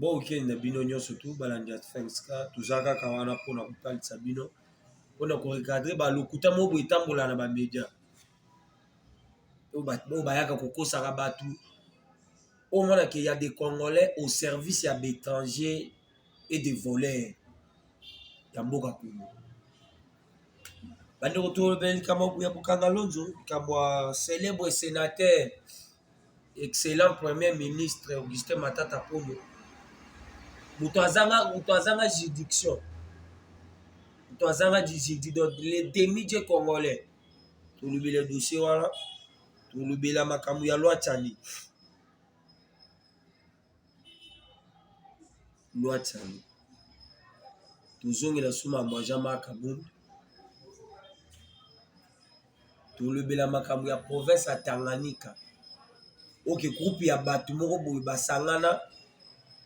Bon week-end na bino nionso tout balandi ya Fenska toza kaka wana pona kotalisa bino pona ko recadre ba lokuta moko boye etambola na ba media oyo bayaka kokosaka batu omona ke ya de congolais au service ya ba etranger et de voleurs ya mboka Congo bandeko tolobela likambo ya Bukanga Lonzo likambo ya celebwe senateur. Excellent Premier Ministre Augustin Matata Ponyo, moto azanga moto azanga juridiction, moto azanga juridiction, donc le demi je congolais tolobela dossier wana, tolobela makambo ya loi Tshani. Loi Tshangu. Tozongela sous makambo ya Jean-Marc Kabund. Tolobela makambo ya province ya Tanganyika. Oke groupe ya bato moko boye basangana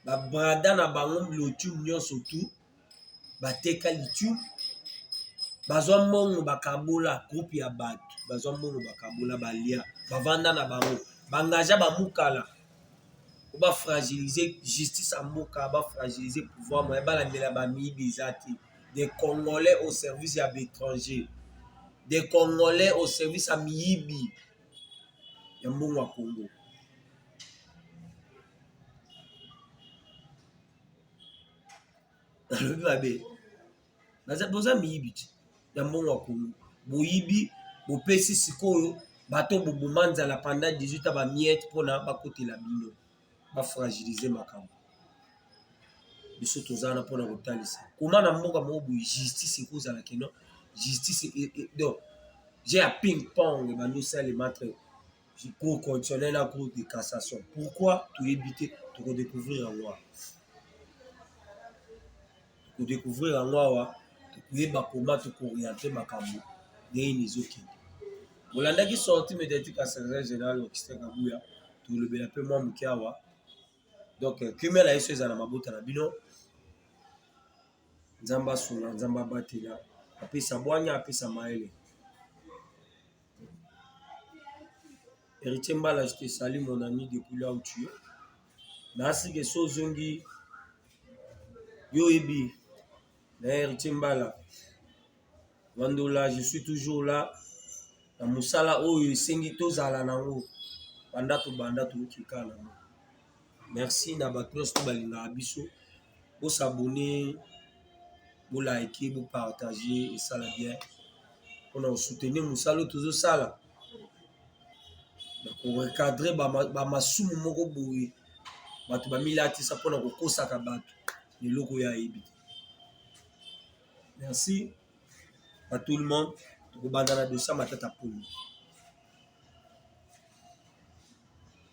babrada na bango lotumu nyonso tout bateka lithium bazwa mbongo bakabola groupe ya bato bazwa mbongo bakabola balia bavanda na bango bangagea bamukala po bafragilize justice ya mboka bafragilize pouvoir moye balandela bamiyibi eza te de congolais au service ya baetranger de congolais au service ya miyibi ya mbongo ya kongo balobi babe boza miyibi ti ya mbongo ya kongo boyibi bopesi sikoyo bato boboma nzala pendant 18 bamiete mpona bakotela bino bafragilize makambo biso toza wana mpona kotalisa koma na mboka moko boye justice ekozala keno justice e, e, donc je ya ping pong ebandi osalema entre du cours constitutionnel na cours de cassation pourquoi toyebi te tokodécouvrir yango awa tokodécouvrir yango awa tokoyeba koma tokooriente makambo ndenge nini ezokende olandaki sorti médiatique ya secrétaire général augustin kabuya tolobela mpe mwa moke awa donc kimia na yesu ezala na mabota na bino nzambe asunga nzambe abatela apesa bwanya apesa mayele Heritier Mbala, je te salue mon ami depuis là où tu es. Nasi ke so zongi yo ebi na Heritier Mbala. Wandola, je suis toujours là. Na mosala oyo esengi tozala nango banda tobanda tokoki kala nango. Merci na bato nyonso balingaka biso. bo s'abonner bo like bo partager esala bien mpona kosoutenir mosala oyo tozosala na korecadre bamasumu moko boye bato bamilatisa mpona kokosaka bato na eloko oyo ayebi te merci à tout le monde tokobanda na dosa matata polo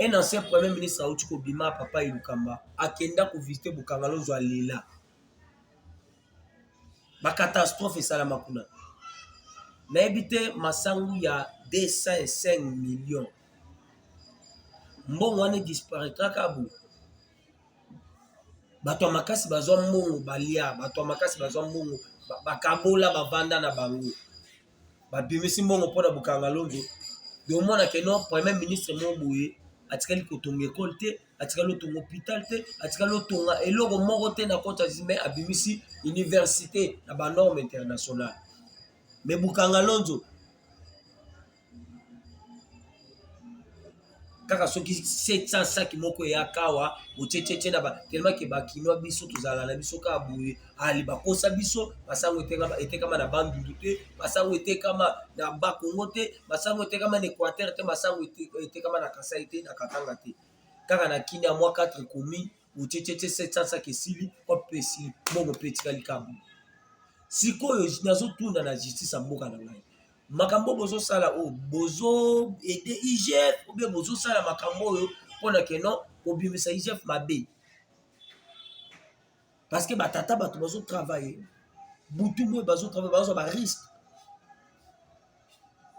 Un ancien premier ministre auti kobima papa Elukamba akenda ko visiter Bukangalozo alela ba catastrophe esalama kuna nayebi te masangu ya 205 millions mbongo wana disparaîtra ka boye bato ya makasi bazwa mbongo balia bato ya makasi bazwa mbongo bakabola bavanda na bango babimisi mbongo mpo na bokangalonge de omona ke no premier ministre moko boye atikali kotonga ekole te atikali otonga hôpital te atikali otonga eloko moko te na kota me abimisi université na banorme internationale me bokangalonzo kaka soki 700 saki moko eyaka awa botyetyetie na batelemaki bakinois biso tozala na biso kaka boye ali bakosa biso basango etekama na bandundu te basango etekama na bakongo te basango etekama na équateur te basango etekama na kasai te na katanga te kaka na kinia mwa 4 commune botyetyetie 700 saki esili kope esili mbongo mpe etikali kabu sikoyo nazotunda na justice ya mboka na ngai makambo bozosala oyo oh, bozo ede igf obe bozosala makambo oyo mpona ke non kobimisa igf mabe parce que batata bato bazotravaille butu boye bazotravaille bazwa bariske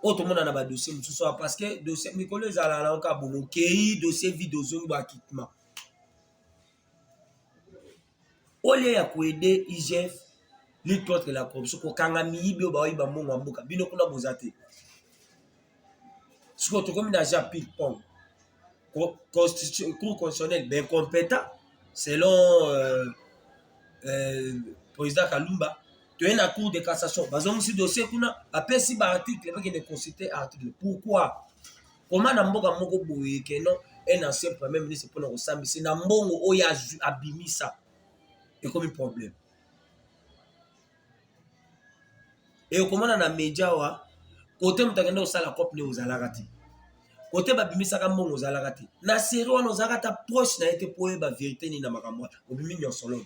oyo tomona na badossier mosusu awa parce que dossier mikolo ezala na oka bomo okei dossier vide ozongi bakitement au lieu ya koede igf lutte contre la corruption kokanga miyibi oyo baoyiba mbongo ya mboka bino kuna boza te sikoyo tokomi na ja ping pong cour constitutionnel beincompétent selon euh, euh, président kalumba toye na cour de cassation bazongisi dossier kuna bapesi baarticle bakende consulte article pourquoi koma na mboka moko boye que non un ancien premier ministre mpona kosambisa na mbongo oyo abimisa ekomi problème ekomona na media wa kote moto akende kosala cope nde ozalaka te kote babimisaka mbongo ozalaka te na serie wana ozalaka ata proche na ye te mpo oyeba verité nini na makambo wana obimi nyonso lono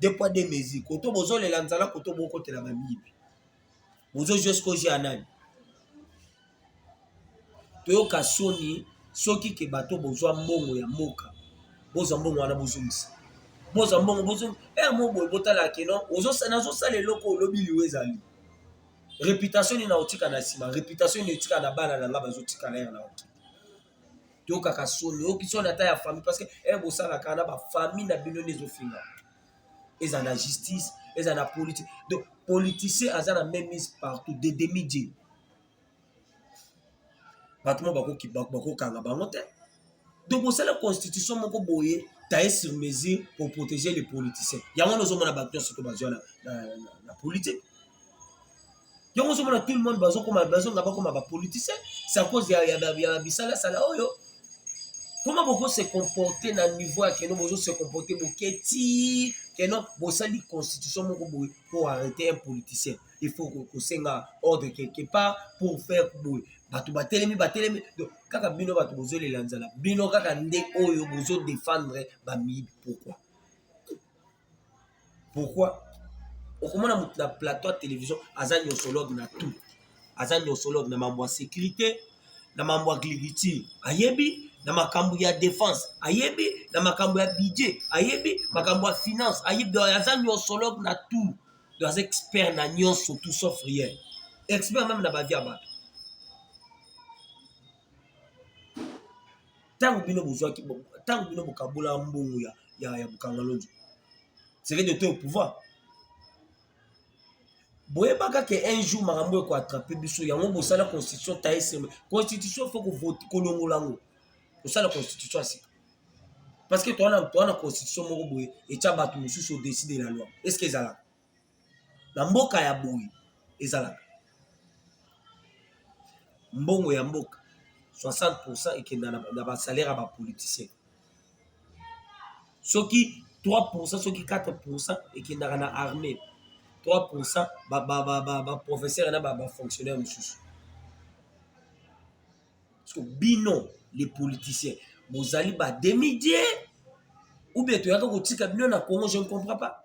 deux poids deux mesures koto bozolela nzala koto bokotela bamiyibi bozozwa sikozi ya nani toyoka soni soki ke bato bozwa mbongo ya mboka bozwa mbongo wana bozongisa bozwa mbongo bozongi eh, ea moboye botala keno nazosala eloko olobi liwa ezali reputation nini nakotika na nsima reputation nini etika na bana na ngai bazotikala yere na okende toyokaka soni oyoki soni ata ya famille parce que e eh, bosalaka na bafamille na bino nde ezofinga eza na justice eza na politique donc politicien aza na même mise partout de demi die bato mo bakokanga bango te donc bosala constitution moko boye taille sur mesure pour protéger les politiciens yango wana ozomona bato nyonso to bazwa na politique yango ozomona tout le monde bazokoma bazonga bakoma bapoliticien c'est à cause ya, ya, ya, ya bisalasala oyo comment boko se comporter na niveau ya keno bozo se comporter boke ti keno bosali constitution moko boye pour arrêter un politicien il faut kosenga ordre quelque part pour faire boye bato batelemi batelemi donc kaka bino bato bozolela nzala bino kaka nde oyo bozodefendre bamiyibi pourquoi pourquoi okomona moto na plateau ya télévision aza nyosologue na tout aza nyosologue na mambo ya sécurité na mambo ya agriculture ayebi na makambo ya défense ayebi na makambo ya budget ayebi makambo ya finance ayebi aza nyosologue na tout donc aza expert na nyonso tout sauf rien expert meme na bavie ya bato ntango bino bozwaki ntango bino bokabola mbongo ya, ya, ya bokangalonji c'est que de toi au pouvoir boyebaka ke un jour makambo eko attrape biso yango bosala constitution taye seme constitution fo kolongola yango kosala constitution ya sika parce que towana towana constitution moko boye etya bato mosusu odeside la loi est ce que ezalaka na mboka ya boye ezalaka mbongo ya mboka 60 pourcent ekenda na basalaire ya bapoliticien soki 3 pourcent soki 4 pourcent ekendaka na armée 3 pourcent baprofesseur na bafonctionnaire mosusu parceke bino les politiciens bozali bademidie ou bien toyaka kotika bino na congo je ne comprends pas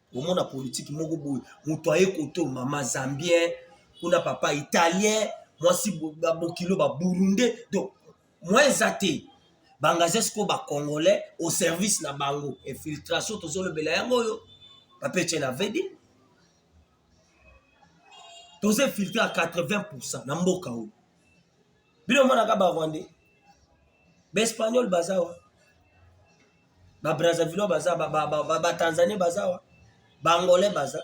omona politiki moko boye moto aye koto mama zambien kuna papa italien mwasi bokilo baburunde donc mwa eza te bangaze sikoyo bacongolais au service na bango infiltration tozolobela yango oyo papece na vedi toza infiltre ya 80 pourcent na mboka oyo bino omonaka barwandais baespagnol baza wa ba Brazzavillois baza ba, ba, ba, ba, ba Tanzaniens baza wa ba Angolais baza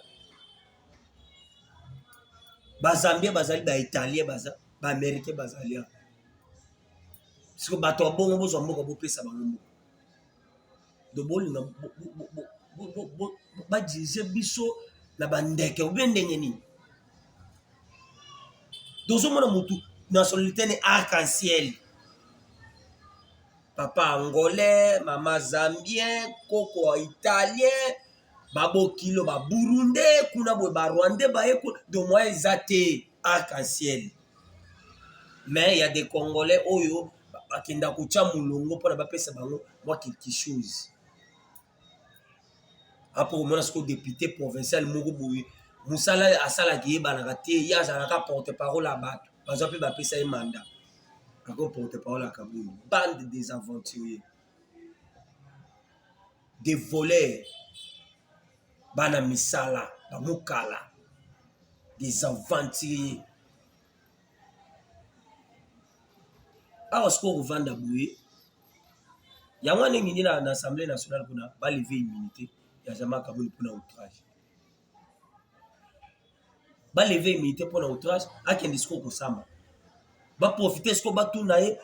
ba Zambiens bazali ba Italiens baza ba Américains bazali awa siko bato ya bongo bozwa mboka bopesa bango mboka do bolinga badirige biso na bandeke obe ndenge nini tozomona motu nationalité ne arc-en-ciel papa angolais mama zambien koko italien babokilo baburunde kuna boye barwande baye kuna do mwa eza te arc en ciel mais ya de congolais oyo bakenda kotya molongo mpona bapesa bango mwa quelque chose apo komona sikoyo depute provincial moko boye mosala asalaka eyebanaka te ye azalaka porte parole ya bato bazwa mpe bapesa ye manda ako porte parole ya kabulu bande des aventuriers de voleurs bana misala bamokala des aventuriers awa sikoyo kovanda boye yango wana engengi na assemblée nationale kuna baleve immunité ya jama kaboni mpona outrage baleve immunité mpona outrage akende sikoyo kosamba baprofite sikoyo batuna ye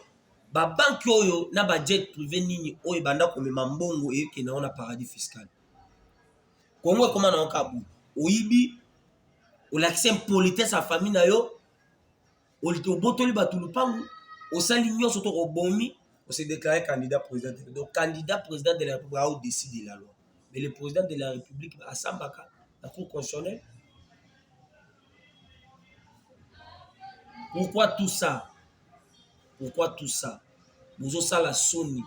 babanke oyo na bajet privé nini oyo ebanda komema mbongo eyokende yango na paradis fiscal kongo ekoma na yango kabu oyibi olakisi impolitesse ya famille na yo obotoli bato lupangu osali nyonso to obomi ose déclare candidat président de donc candidat président de la république ao décide la loi mais le président de la république asambaka na cour constitutionnelle pourquoi tout ça pourquoi tout ça bozosala soni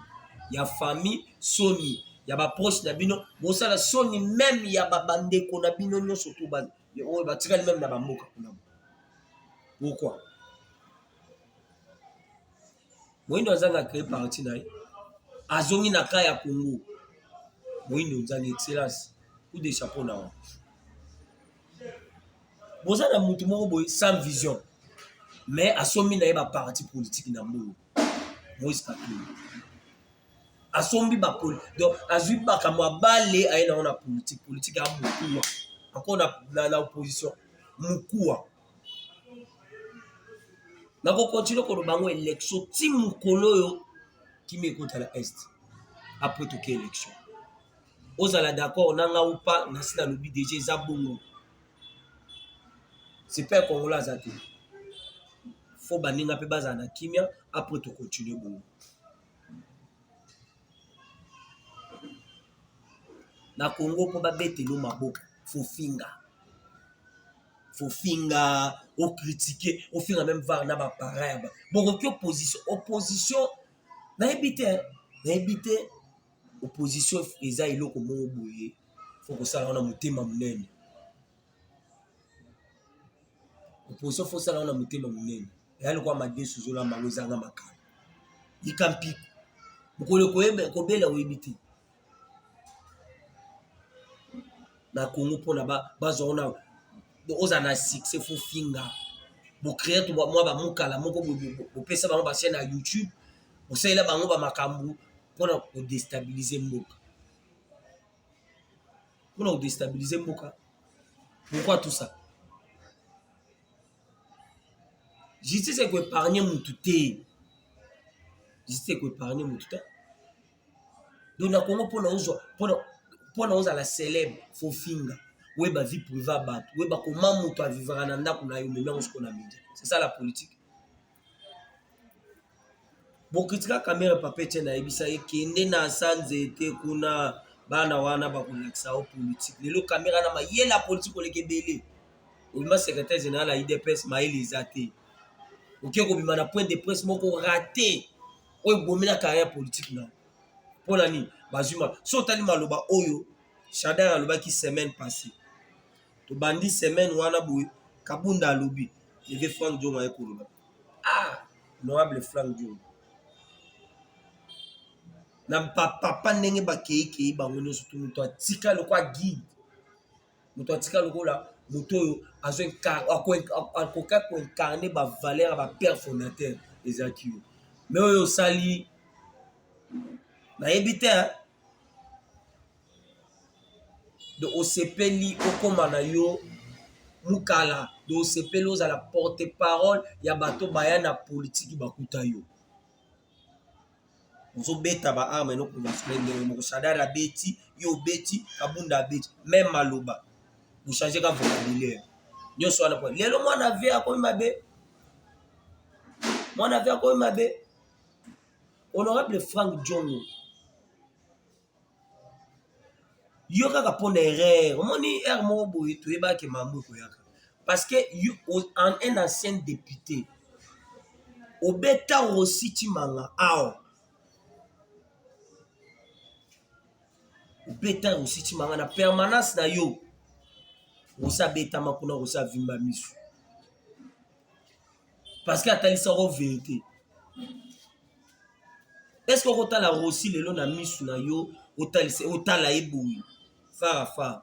ya famille soni ya baproche na bino bosala soni meme ya babandeko na bino nyonso to bana oyo batikali meme na bamboka kuna pourquoi moindo azanga créer parti na ye azongi na ka ya congo moindo nzangi excellence ou de chapeau na wango boza na motu moko boye sans vision mais asombi na ye baparti politiki na mbongo moise katumbi asombi ba donc azui makambo abale aye nango na politique politique ya mokuwa ako na, na, na opposition mokuwa nakokontinue koloba yango election ti mokolo oyo kimi ekota na est apres toke election ozala d'accord na nga upa nasi nalobi deja eza bongo sepe kongola aza te fo baninga mpe bazala na kimia apres tokontinue bongo na Congo mpo babetelo maboko fofinga fofinga okritike ofinga meme var na bapara ya bokoki opposition opposition nayebi te nayebi te opposition eza eloko moko boye fo kosala wana motema monene Oposition faut osala na motema monene, eya lokola madesu ozolamba yango ezanga makala, yika mpiko mokolo kobela oyebi te na Congo mpona bazwa ona ozala na succès faut finga bocreer to mwa bamukala moko bopesa bango bachaine ya youtube bosalela bango bamakambo mpona kodestabilize mboka mpona kodestabilize mboka pourquoi tout ça justice ekoepargne mutu te justice ekoepargne mutu te donc na kongo mpona ozwa mpona ozala célèbre fo finga oyeba vie privé ya bato oyeba koma moto avivaka na ndako na yo meme yango soko na media c'est ça la politique bokritika kamere papa etienne ayebisa ye kende na sa nzete kuna bana wana bakolakisa yo politike lelo kamera na mayele ya politike oleka ebele obima secretaire général ya idps mayele eza te oke kobima na point de presse moko rate oyo ebomi na carrière politike na mpo na nini bazwi so otali maloba oyo shadar alobaki semaine passée tobandi semaine wana boye kabunda alobi leve frank diongo aye koloba ah honorable frank diongo na papa ndenge bakeikei bango nyonso to moto atika lokola guide moto atika lokola moto oyo akoka koincarne bavaleur ya bapère fondateur ezalaki yo me oyo osali nayebi te de osepeli okoma na yo mukala de osepeli ozala porte parole ya bato baya na politiki bakuta yo ozobeta ba arme no komasle ndenge moko sadar abeti yo obeti kabunda abeti meme maloba bochange ka vocabulaire nyonso wana po lelo mwana ve akomi mabe mwana ve akomi mabe honorable frank jongo yo kaka mpona erreur omoni heure moko boye toyebake mambo ekoyaka parce que un ancien depute obeta rosi timanga awa obeta rosi timanga na permanence na yo rosi abetama kuna rosi avimba misu parce que atalisako verite est ce que okotala rosi lelo na misu na yo otalisa otala ye boye fara fara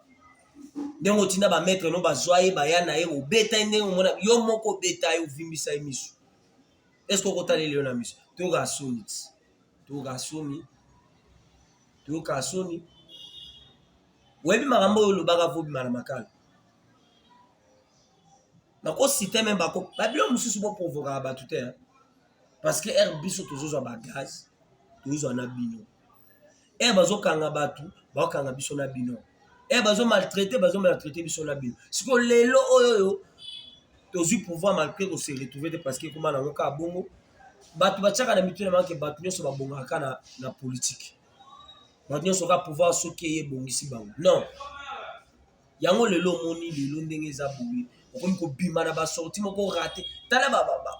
ndenge otinda bamaître no bazwa ye baya na ye obeta ye ndenge omona yo moko obeta ye ovimbisa ye misu est ce que okotala ye lelo na misu toyokaa soni ti toyokaa soni toyokaa soni oyebi makambo oyo olobaka vobima na makala bakosite me bako babilo mosusu boprovokaka bato te parce que ere biso tozozwa bagaz tozozwa na bino ere bazokanga bato bakokanga biso na bino ere bazo maltraite bazo maltraite biso na bino sikoyo lelo oyo oyo tozwi pouvoir malgré kose retrouve te parce que ekoma nango kaka bongo bato batiaka na mitu na banke bato nyonso babongaka kaka na, na politike bato nyonso kaka pouvoir soki eye ebongisi bango non yango lelo omoni lelo ndenge eza boye okomi kobima na basorti moko rate tala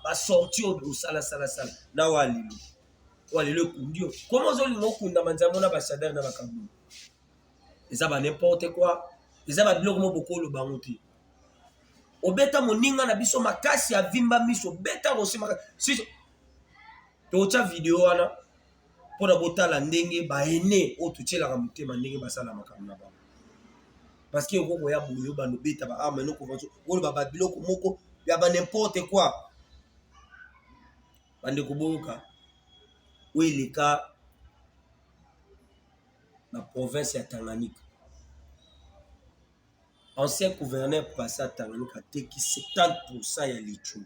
basorti oyo osalasalasala na wa lelo wa lelo ekundi yo koma ozolinga okunda manzambo na basadere na bakambo eza banimporte koi eza babiloko mo bokoloba yango te obeta moninga na biso makasi avimba miso obeta rosi makasi totya video wana mpona botala ndenge baene oyo totyelaka motema ndenge basala makambo na bango parce que oko koya boye obanda obeta ba arme no convention oloba ba biloko moko ya ba n'importe quoi bande koboyoka oyo eleka na province ya Tanganyika ancien gouverneur passa Tanganyika ateki 70% ya lithium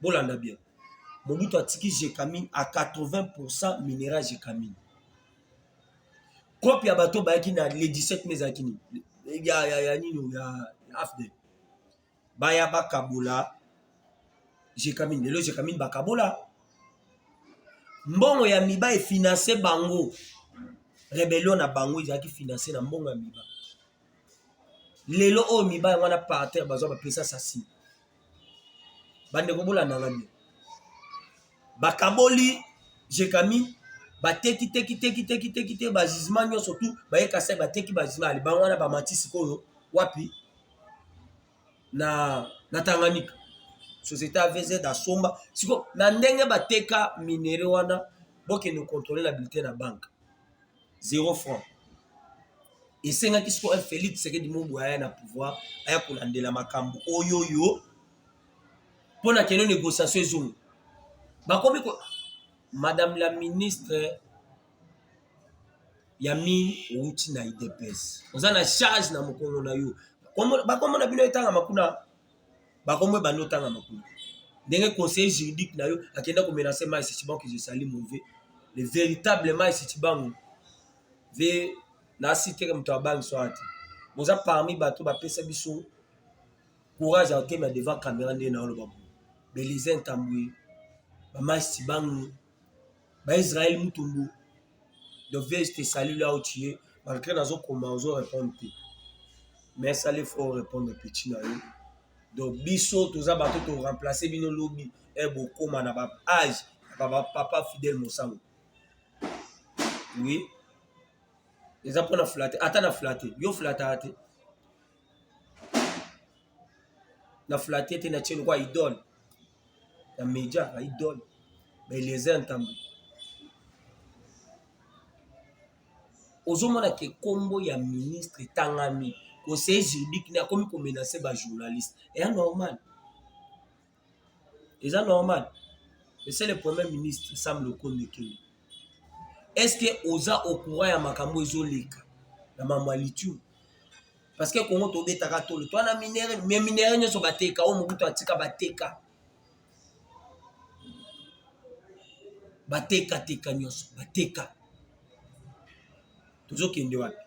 bolanda bien mobutu atiki jecamine a 80 pourcent minera jecamine kope ya bato bayaki na le 17 mai ezalaki nini ya, ya, ya nini ya afdel baya bakabola jecamine lelo jecamine bakabola mbongo ya miba efinanse bango rebellion na bango ezalaki finanse na mbongo ya miba lelo oyo miba yango wana parter bazwa bapesa sasi bandeko bolanda nga nde bakaboli jekami bateki teki teki teki teki te bajugement nyonso tu baye kasai bateki bajugement ya libanga wana bamati sikoyo wapi na na tanganyika société avz asomba sikoyo na ndenge bateka minere wana bokende kontrole na bulletin na banke zero franc esengaki sikoyo felix tshisekedi mobu aya na pouvoir aya kolandela makambo oyo oyo mpo na keno négociation ezongi bakomi ko madame la ministre ya mine outi na idps oza na charge na mokongo na yo bakomona bino etangama kuna bakombo ebandi otanga makolo ndenge conseiller juridique na yo akenda komenase mai sitibango kizo esali mauvais le véritable mai sitibango ve na siteke moto abangi soa te boza parmi bato bapesa biso courage ya otema devant camera nde na oloba bo belize ntambwe bamai sitibango ba Israël Mutombo de vieille je te salue là où tu es malgré nazo koma ozo répondre te mais ça les faut répondre petit na yo donc biso toza bato to remplacer bino lobi e bokoma na ba age ya ba papa Fidèle Mosango oui eza mpo na flate ata na flate yo flataka te na flate te na tie lokwa idole na media na idole ba eliezer ntambo ozomona ke nkombo ya ministre etangami conseiller juridique ne akomi komenase bajournaliste eya normal eza normal ese le premier ministre sam lokondo ekenge estce oza ocourant ya makambo ezoleka na mambo ya lithium parce que kongo tobetaka tolo to na minere me minere nyonso bateka oyo mobutu atika bateka batekateka nyonso bateka tozokende wapi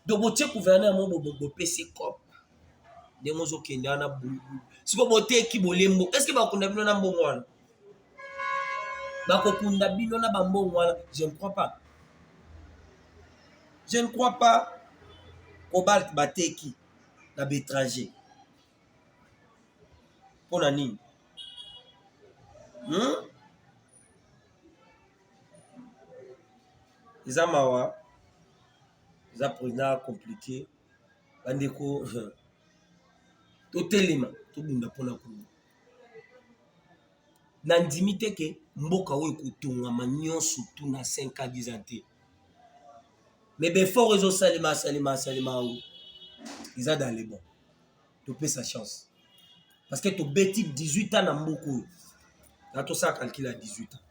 donc botie gouverneur yango bobo bopesi cop ndenge ozokende wana bulubulu siko boteki bolembo estce bakunda bino na mbongo wana bakokunda bino na bambongo wana je ne crois pas je ne crois pas cobalt bateki na betranger mpo na nini hmm? eza mawa eza mpenza komplike bandeko totelema tobunda mpo na kongo nandimi te ke mboka oyo ekotongama nyonso tu na 5 a 10 ans te mais befort ezosalema asalema asalema yango eza dans le bon topesa chance parce que tobeti 18 ans na mboka oyo na tosala calcule ya 18 ans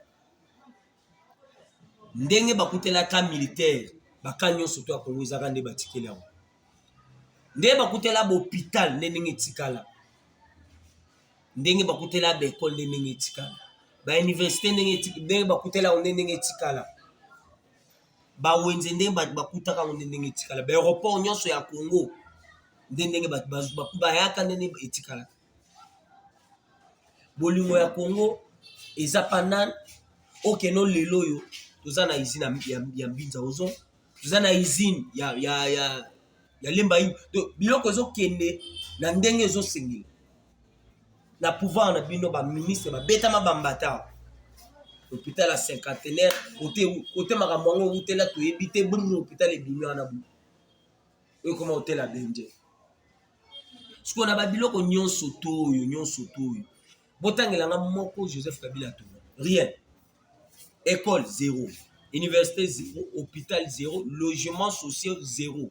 ndenge bakutelaka militaire baka nyonso to ya kongo ezaka nde batikeli yango ndenge bakutela bopital nde ndenge etikala ndenge bakutela baekole nde ndenge etikala bauniversité ndenge bakutela yango nde ndenge etikala ba wenze ndenge bato bakutaka yango nde ndenge etikala ba aéroport nyonso ya congo nde ndenge bato bayaka nde ndenge etikalaka bolingo ya congo eza panane okeno lelo oyo toza na izine ya mbinza ozo toza na izine ya, ya, ya, ya lemba ini biloko ezokende na ndenge ezosengela na pouvoir na bino ba ministre babetama bambata hôpital ya cinquantenaire kote makambo yango ewutela toyebi te bongo hôpital ebimi wana bo ekoma hôtela benje sikoyo na babiloko nyonso to oyo nyonso to oyo botangela nga moko joseph kabila tono rien école zéro université zéro hôpital zéro logement social zéro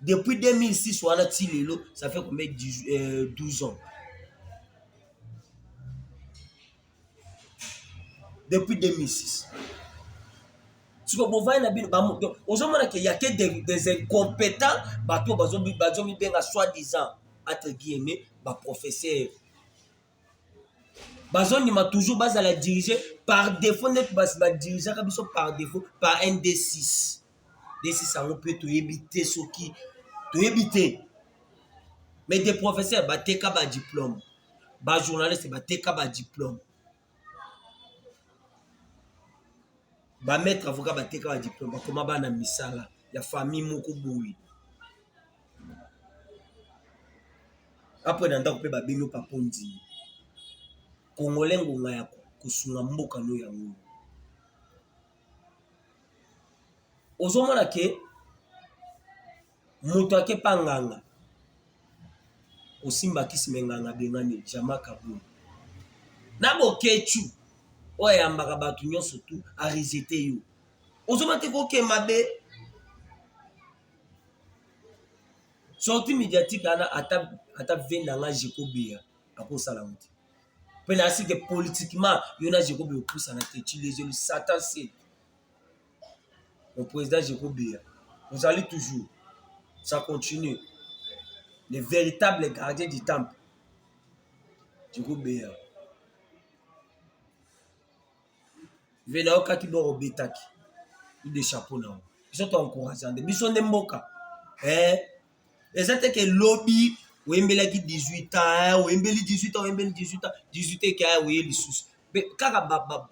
depuis 2006 wana ti lelo ça fait combien 12 euh, ans depuis 2006 siko bovandi na bino ozomona ke ya ke des incompétents bato bazomibenga soit disant entre guillemets baprofesseur bazondima toujours bazala dirige par défaut ndeti basi badirigeaka biso par défaut par nd6 d6 yango mpe toyebi te soki toyebi te mais des professeurs bateka badiplome bajournaliste bateka badiplome bamaître avocat bateka badiplome bakoma bana misala ya famille moko boye Apwena ndako mpe babino papa ondimi kongole ngonga ya kosunga mboka no yango ozomona ke moto ake pa nganga osimba kisi me nganga abengani jama kabul na bokechu oyo ayambaka bato nyonso tu aresete yo ozomona te koke mabe sorti mediatique ana ata ata venda nga jekobeya akosala ngo te mpe na asi te politiquement yo na jekobeya opusana te chilezelu satan se le président jekobeya ozali toujours ça continue le véritable gardien du temple jekobeya vela okaki bor obetaki de chapeau na yango biso to encourage nde biso nde mboka eh, eza te ke lobi oyembelaki 18 ans oyembeli 18 ans oyembeli 18 ans 18 eke aya oye lisusu kaka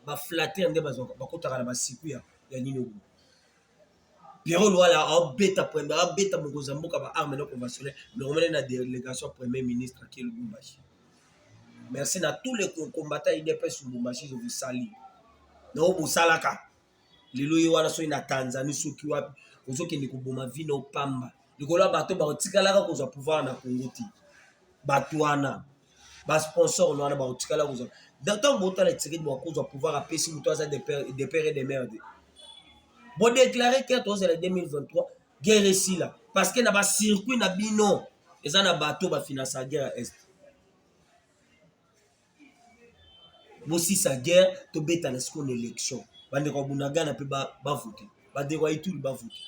baflater nde bakotaka na basiku ya nini obo Pierrot Luwala abeta premier abeta mokonzi ya mboka ba armes non conventionnelles longomene na délégation ya premier ministre qui est Lubumbashi merci na tous les combattants UDPS Lubumbashi je vous salue na oyo bosalaka lelo ye wana soki na Tanzanie soki wapi ozokende koboma vi na opamba likolo ya bato bakotikalaka kozwa pouvoir na Congo te bato wana ba sponsor na wana bakotikala kozala ntango botala tshisekedi bakozwa pouvoir apesi moto aza de pere de mare te bodeklare ke tozala 2023 guerre esila parce que na bacircuit na bino eza na bato bafinansa guerre ya est bosisa guerre tobetana sikoyo na élection bandeko ya bunagana mpe bavote bandeko ya ituri bavote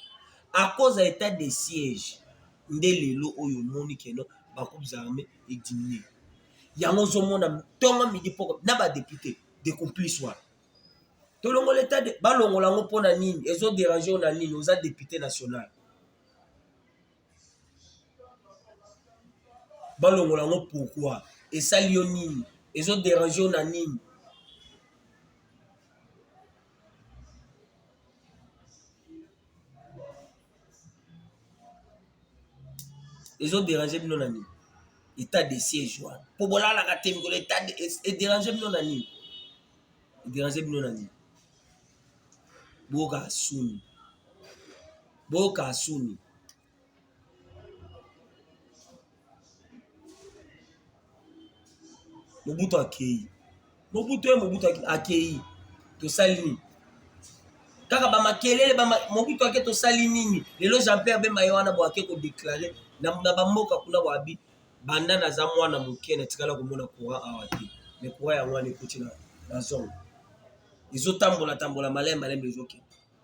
à cause ya état de siège nde lelo oyo omoni keno bakubisa armee ediminue yango ozomona ntongo midi mpo na badepute de complice wana tolongola etat de balongola yango mpo na nini ezoderange na nini oza depute national balongola yango pourkui esali yo nini ezoderange na nini ezo derange bino na nini etat de siège wana mpo bolalaka te mikolo etat ederange bino na nini ederange bino na nini boyoka suni boyoka suni mobutu akei mobutu ye mobutu akei tosali nini kaka bamakelele mobutu ake tosali nini lelo jean pierre bemba ye wana boake kodeklare na bamboka kuna boabi banda naza mwana moke natikala komona courant awa te me courant yango wana ekoti na zone ezotambola tambola malai malai ezokende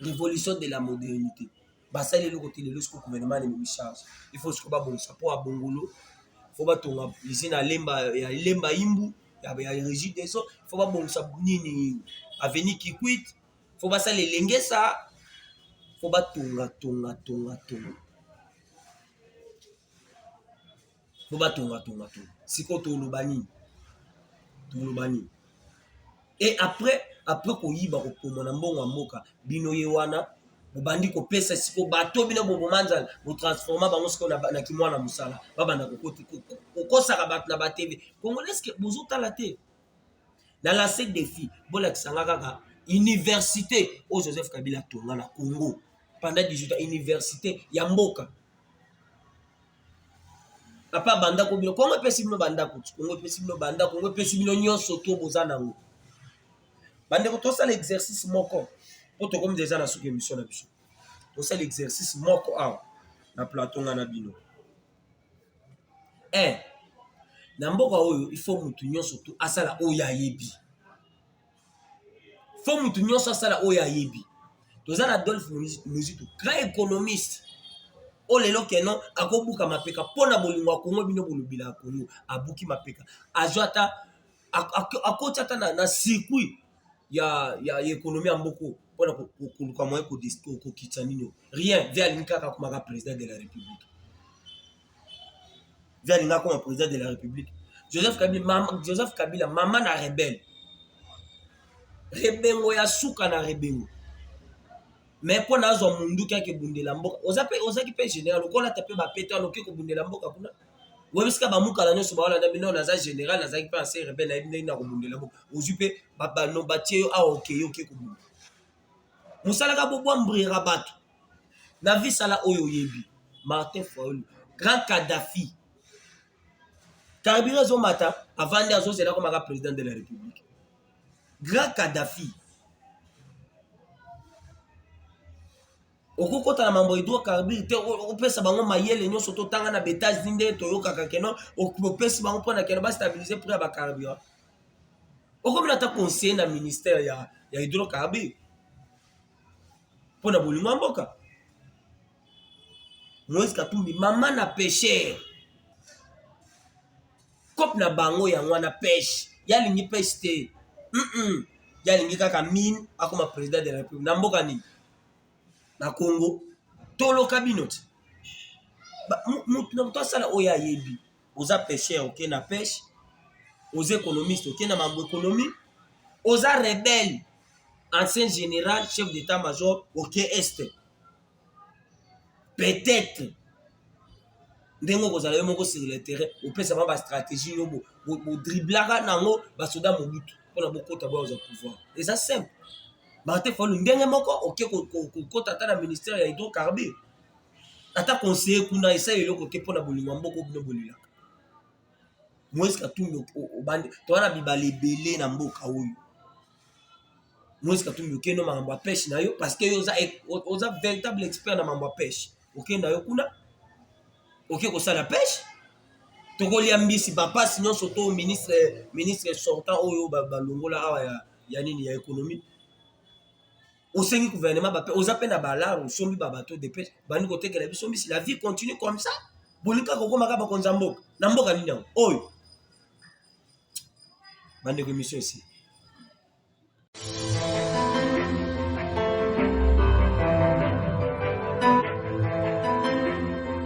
revolution de la modernité basali eloko te lelo siko gouvernement ne memi charge il faut siko babongisa mpo ya bongolo fo batonga usine alemba ya lemba imbu ya regi des eaux fo babongisa nini aveni kikwit fo basala elengesa fo batonga tonga tonga tonga po batonga tonga to sikoyo toloba nini toloba nini e après après koyiba kopoma na mbongo ya mboka bino ye wana bobandi kopesa siko bato bino boboma nzala botransforma bango siko na kimwana mosala babanda kokosaka bato na batv congolaiseke bozotala te na lase defi bolakisanga kaka université oyo joseph kabila atonga na congo pendant 18 ans université ya mboka papa bandako bino kongo epesi bino bandako kongo epesi bino bandako kongo epesi bino nyonso to boza nango bandeko tosala exercice moko mpo tokomi deja na suki emission na biso tosala exercice moko awa na plateau nga na bino e eh, na mboka oyo ifo motu nyonso tu asala oyo ayebi fo motu nyonso asala oyo ayebi toza na adolphe muzitu grand économiste oyo lelo keno akobuka mapeka mpo na bolingo ya kongo bino bolobila ya kongo abuki mapeka azwa ata akoti ata na, na circuit ya, ya, ya ekonomi ya mboko mpo na koluka moye kokitisa nini rien ve alingi kaka akomaka président de la république vie alinga akoma président de la république joseph kabila mama, joseph kabila mama na rebelle rebengo ya suka na rebengo me mpo na azwa munduki ake bundela mboka oza pe ozaki pe général okolata pe bapete wana oke kobundela mboka kuna webisika bamukala nyonso baolanda bino naza général nazalaki pe anse rebelle nayebi ndenge na kobundela mboka ozwi pe batie yo awa okeyi oke kobunda mosalaka bobwambrira bato na vie sala oyo oyebi martin faulu grand kadafi carburant ezomata avandi azozela komaka président de la république grand kadafi okokota na mambo edro carbure te opesa bango mayele nyonso totanga na betage nde toyokaka keno opesi bango mpona keno bastabilize prix ya bacarburant okomina ata conseiller na ministère ya, ya hydrocarbure mpo na bolingo ya mboka moise katumbi mama na pesher cope na bango yango wana peshe yalingi peshe te mm -mm. yalingi kaka mine akoma président de la république na mboka nini na congo toloka bino ti moto na moto asala oyo ayebi oza pêcheur oke na pêche oza économiste oke na mambo économie oza rebelle ancien général chef d'état major oke est peut-être ndenge okozala yo moko sur le terrain opesa ba bastratégie yo bodriblaka nango basoda mobutu mpona bokota boyaza pouvoir eza simple bate folu ndenge moko oke kokota ata na ministère ya hydrocarbure ata conseiller kuna esali eloko te mpo na bolingo ya mboka bino bolelaka moise katumbi obandi toza na bibala ebele na mboka oyo moise katumbi okende makambo ya peshe na yo parce que yo oza e, véritable expert na makambo ya peshe okende na yo kuna oke kosala peshe tokolia mbisi bapasi nyonso to ministre ministre sortant oyo balongola awa ya, ya nini ya économie osengi gouvernement bape oza mpe na balar osombi babato depe bandi kotekela biso mbisi la vie continue comme ça bolingi kaka kokomaka bakonzi ya mboka na mboka nini yango oyo bandeko emission esi